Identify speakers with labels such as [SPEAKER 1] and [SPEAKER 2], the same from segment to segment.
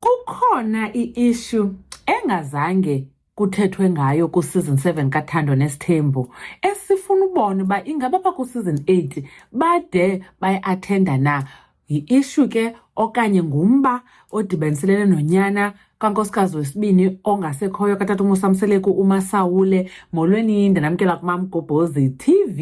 [SPEAKER 1] Kukhona i-issue engazange kuthethwe ngayo ku-season 7 kathando nesithembu esifuna ubona uba ingaba baku-season 8 bade bayi-athenda na yi-ishu ke okanye ngumba odibaniselene nonyana kankosikazi wesibini ongasekhoyo katata umusamseleku umasawule molweni ndanamkela kumamgobhozi tv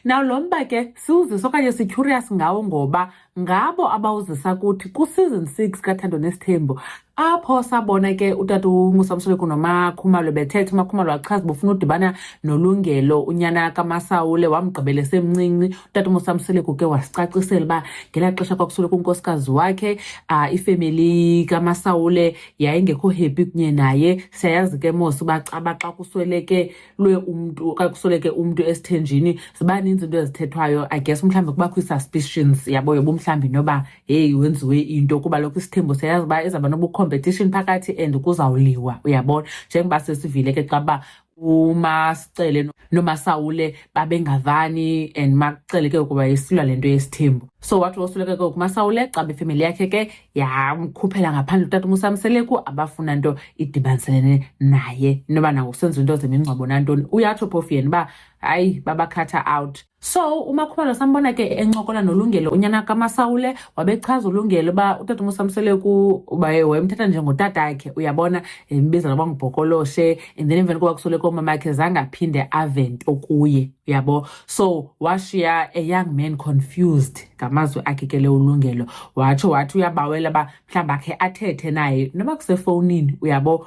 [SPEAKER 1] nawo lo mba ke siwuzisa okanye sityhuriyas ngawo ngoba ngabo abawuzisa kuthi kusizon six kathando nesithembo apho sabona ke utata ungusamsoleko nomakhumalo bethetha umakhumalo wachaza bofuna udibana nolungelo unyana kamasawule wamgqibela esemncinci utata umusamsoleko ke wasicacisela uba ngela xesha kwakusoleka unkosikazi wakhe um ifemeli kamasawule yayingekho happy kunye naye siyayazi ke mos uba xa kusweleke lwe umntu okanye kusoleke umntu esithenjini ziba ninzi into ezithethwayo i guess mhlawumbi kubakho ii-suspicions yabo yoba mhlawumbi noba heyi wenziwe into kuba lokho isithembo siyayazi uba izawuba nobucompetition phakathi and kuzawuliwa uyabona njengoba sesivile ke xa uba umasicele nomasawule babengavani and makucele ke ukuba yesilwa le nto yesithembu so wathi wosuleke ke umasawule xa befemeli yakhe ke ya umkhuphela ngaphandle utata umusamseleku abafuna nto idibaniselene naye inoba nango kusenza into zemingcwabo nantoni uyatsho phofu yena uba hayi babakhatha out so umakhubalo sambona ke encokola nolungelo unyana kamasawule wabechaza ulungelo uba utata umusamseleku wayemthatha njengotata akhe uyabona embiza noba ngubhokoloshe and then emveni koba kusoleko umama akhe zange aphinde avento kuye uyabo so washiya a young man confused ngamazwi akhe ke le ulungelo watsho wathi uyabawela uba mhlawumbi akhe athethe naye noba kusefowunini uyabo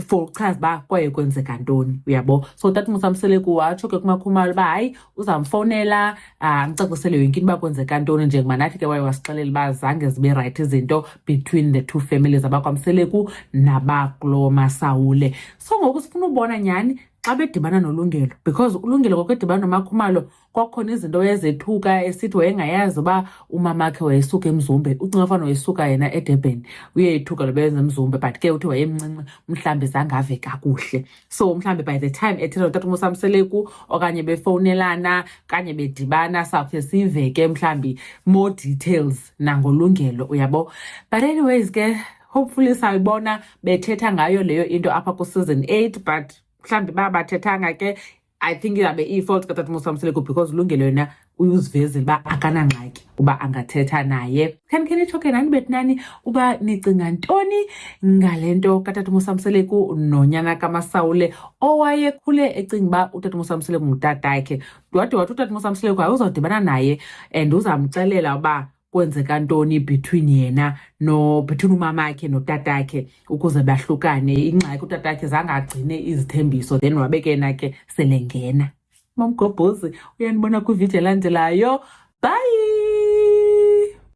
[SPEAKER 1] for ukuchaza uba kwaye kwenzeka ntoni uyabo so that musamseleku watsho ke kumakhumalo uba hayi uzamfowunela amcacisele yonke into uba kwenzeka ntoni njengoba nathi ke waye wasixelela uba zange zibe rayithi izinto between the two families abakwamseleku nabakulo masawule so ngoku sifuna ubona nyhani xa bedibana nolungelo because ulungelo kwakwedibana nomakhumalo kwakukhona izinto ezethuka esithi wayengayazi uba umamakhe wayesuka emzumbe ucinga fana wayesuka yena edurban uyeyithuka loba yenza emzumbe but ke uthi wayemncinci mhlawumbi zangave kakuhle so mhlawumbi by the time ethetha notata umosamseleku okanye befowunelana kanye bedibana sawukhe siveke mhlawumbi more details nangolungelo uyabo but anyways ke hopefully sayibona bethetha ngayo leyo into apha kuseason eight but mhlawumbi uba bathethanga ke i think izabe iyi-fault katata musamseleko because ulungelo yena uyuzivezile uba akanangxaki uba angathetha naye khani khe nitsho ke nani betinani uba nicinga ntoni ngale nto katata musamseleku nonyana kamasawule owayekhule ecinga uba utata musamseleku ngutatakhe wade wathi utata musamseleku ayuzawudibana naye and uzamxelela uba kwenzeka ntoni between yena no between umamakhe notatakhe ukuze bahlukane ingxaki utatakhe zange agcine izithembiso then wabe ke yena ke selengena mamgobhozi uyanibona kwividiyo elandelayo bye